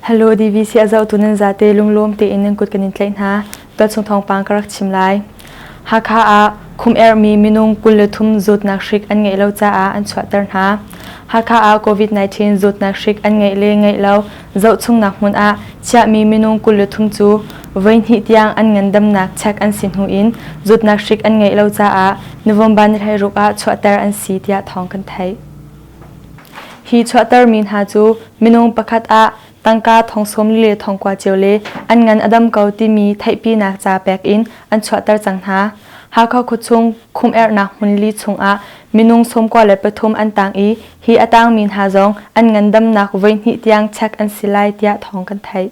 Hello DVC a zohtu nan zate lunglawm tein nan kut kan in tlaih hna. Tualchung thawngpang ka rak chim lai. Hakha ah khum erhmi minung kul le thum zawtnak hrik an ngeih lo caah an chuahter hna. Hakha ah COVID-19 zawtnak hrik an ngeih le ngeih lo Zohchungnak hmun ah chiahmi minung kul le thum cu voihnih tiang an ngandamnak chek an si hnu in zawtnak hrik an ngeih lo caah November ni hleiruk ah chuahter an si tiah thawng kan theih. Hi chuahtermi hna cu minung pakhat ah tangka thong sawm li le thong kua cio le an ngan a dam ko timi theihpinak ca pek in an chuahter cang hna. Hakha khuachung khumherhnak hmun li chung ah minung sawmkua le pathum an tang i hi a tangmi hna zong an ngandamnak voihnih tiang chek an si lai tiah thawng kan theih.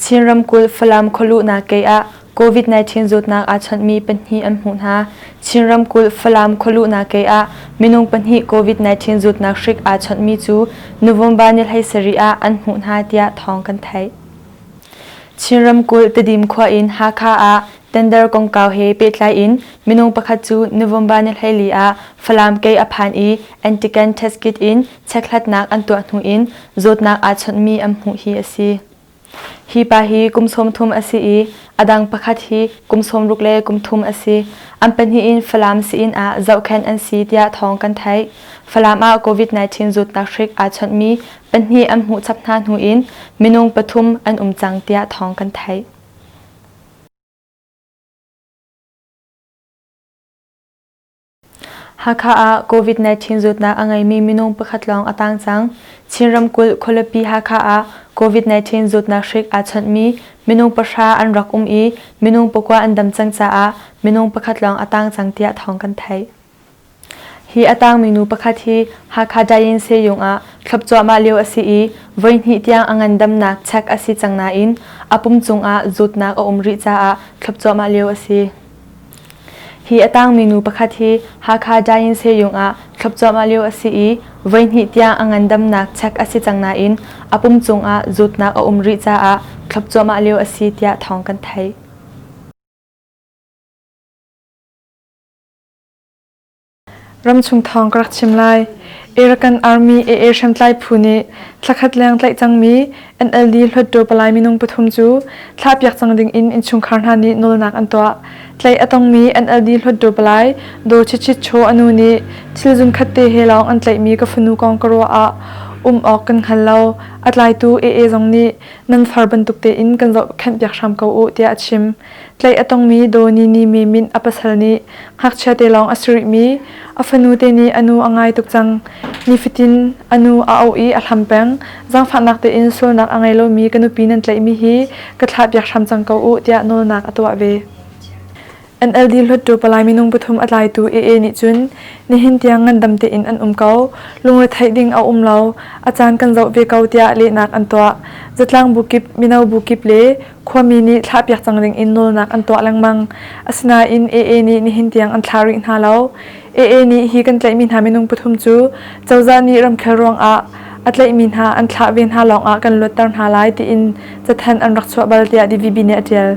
Chin ramkulh Falam khualuhnak kei ah COVID-19 zawtnak aa chawnhmi pahnih an hmuh hna. Chin ramkulh Falam khualuhnak kei ah minung pahnih COVID-19 zawtnak hrik aa chawnhmi cu November ni hleisarih ah an hmuh hna tiah thawng kan theih. Chin ramkulh Tedim khua in Hakha ah Tender kongkau he pehtlai in minung pakhat cu November ni hleili ah Falam kei a phan i antigen test kit in checkhlatnak an tuah hnu in zawtnak aa chawnhmi an hmuh hi a si. Hi pa hi kum sawm thum a si i a dang pakhat hi kum sawm ruk le kum thum a si. An pahnih in Falam si-inn ah zohkhenh an si tiah thawng kan theih. Falam ah COVID-19 zawtnak hrik aa chawnhmi pahnih an hmuh chap hna hnu in minung pathum an um cang tiah thawng kan theih. Hakha ah COVID-19 zawtnak a ngeimi minung pakhat lawng a tang cang. Chin ramkulh Khualipi Hakha ah COVID-19 zawtnak hrik aa chawnhmi minung pahra an rak um i minung pakua an dam cang caah minung pakhat lawng a tang cang tiah thawng kan theih. Hi a tangmi nu pakhat hi Hakha Dainse Yung ah thlop cuahmah lio a si i voihnih tiang a ngandamnak chek a si cang nain a pum cungah zutnak a um rih caah thlop cuahmah lio a si. Hi a tangmi nu pakhat hi Hakha Dainse Yung ah thlop cuahmah lio a si i voihnih tiang a ngandamnak chek a si cang nain a pum cungah zutnak a um rih caah thlop cuahmah lio a si tiah thawng kan theih. Ramchung thawng ka rak chim lai. Arakan Army AA hriamtlai phu nih thlakhat leng tlaih cangmi NLD Hluatdaw Palai minung pathum cu thlahpiak cang ding in innchungkhar hna nih nawlnak an tuah. Tlaih a tongmi NLD Hluatdaw Palai Daw Chit Chit Chaw a nu nih thil zunkhat te he lawng an tlaihmi ka fanu kong ka ruah ah um awk kan hngal lo. A tlaitu AA zong nih nan far bantuk tein kan zohkhenhpiak hram ko u tiah a chim. Tlaih a tongmi Donini mi min a pasal nih ngakchia te lawng a si rihmi a fanu te nih a nu a ngai tuk cang. Nifatin a nu a auh i a hlam peng. Zangfahnak tein sualnak a ngei lomi ka nupi nan tlaihmi hi ka thlahpiak hram cang ko u tiah nawlnak a tuah ve. NLD Hluttaw Palai minung pathum a tlaitu AA nih cun nihin tiang ngandam tein an um ko, lungretheih ding a um lo, a caan kan zoh ve ko tiah lehnak an tuah. Zatlang bu kip, mino bu kip le Khuami nih thlahpiak cang ding in nawlnak an tuah lengmang. Asinain AA nih nihin tiang an thla rih hna lo. AA nih hi kan tlaihmi hna minung pathum cu cozah nih ramkhel ruangah a tlaihmi hna an thlah ve hna lawngah kan luatter hna lai tiin cathanh an rak chuah bal tiah DVB nih a ṭial.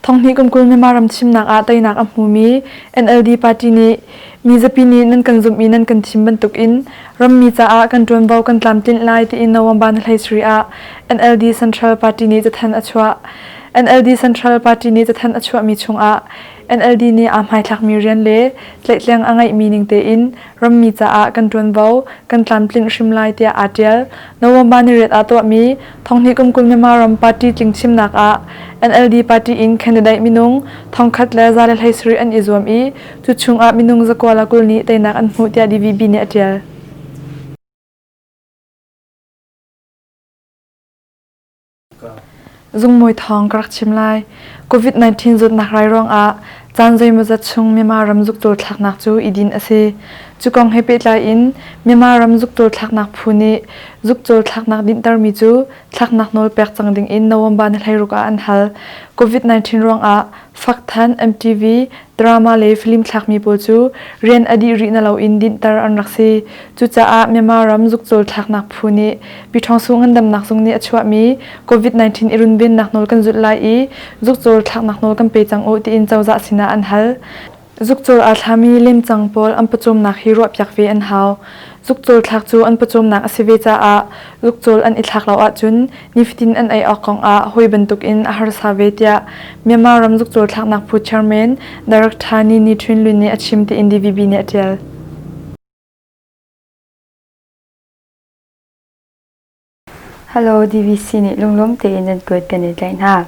Thonghnih kum kul Myanmar ram thimnak ah teinak a hmumi NLD party nih mizapi nih nan kan zumh i nan kan thim bantuk in rammi caah kan ṭuanvo kan tlamtlinh lai tiin November ni hleisuri ah NLD Central Party nih cathan a chuah. NLD Central Party nih cathan a chuahmi chungah NLD nih aa hmaithlakmi rian le tlaihtleng a ngeihmi ning tein Rammi caah kan ṭuanvo kan tlamtlinh hrim lai tiah aa ṭial. November ni riat aa tuahmi thonghnih kum kul Myanmar ram party tling chimnak ah NLD party in candidate minung thongkhat le za le hlei sarih an i zuam i cu chungah minung zakua le kul nih teinak an hmuh tiah DVB nih a ṭial. Zungmawi thawng ka rak chim lai. COVID-19 zawtnak rai ruangah caan zeimawzat chung Myanmar ram zuktawl thlaknak cu i din a si. Cu kong he pehtlai in Myanmar ram zuktawl thlaknak phu nih zukcawl thlaknak dinhtermi cu thlaknak nawl pek cang ding in November ni hleiruk ah an hal. COVID-19 ruangah faktthan MTV Drama le film thlakmi pawl cu rian a dih rih na loin dinhter an rak si. Cucaah Myanmar ram zukcawl thlaknak phu nih Pyithawngsu ngandamnak zung nih a chuahmi COVID-19 i runvennak nawl kan zulh lai i zukcawl thlaknak nawl kan pe cang u tiin cozah sinah an hal. Zukcawl aa thlami lemcang pawl an pawcawmnak hi ruahpiak ve an hau. Zukcawl thlak cu an pawcawmnak a si ve caah Ukcawl an i thlak lo ahcun nifatin an ei awk kong ah hawi bantukin a harsa ve tiah Myanmar ram zukcawl thlaknak phu chairman Director Ni Ni Htun Lwin nih a chim tiin DVB nih a ṭial. Hello, DVC nih lunglawm tein nan kuat kan i tlaih hna.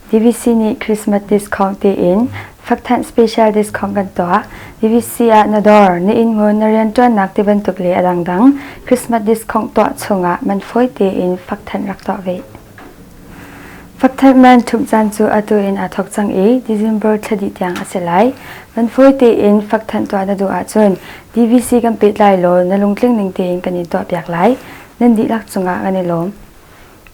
BBC nih Christmas discount tiin fakthanh special discount kan tuah. BBC ah na dawr, na inngun, na rianṭuannak ti bantuk le a dangdang Christmas discount tuah chungah man fawi tein fakthanh rak tuah ve. Fakthanh man ṭhumh caan cu atu in aa thok cang i December thla dih tiang a si lai. Man fawi tein fakthanh tuah na duh ahcun DVC kan pehtlai law na lungtling ning tein kan in tuahpiak lai. Nan dihlak cungah kan i lawm.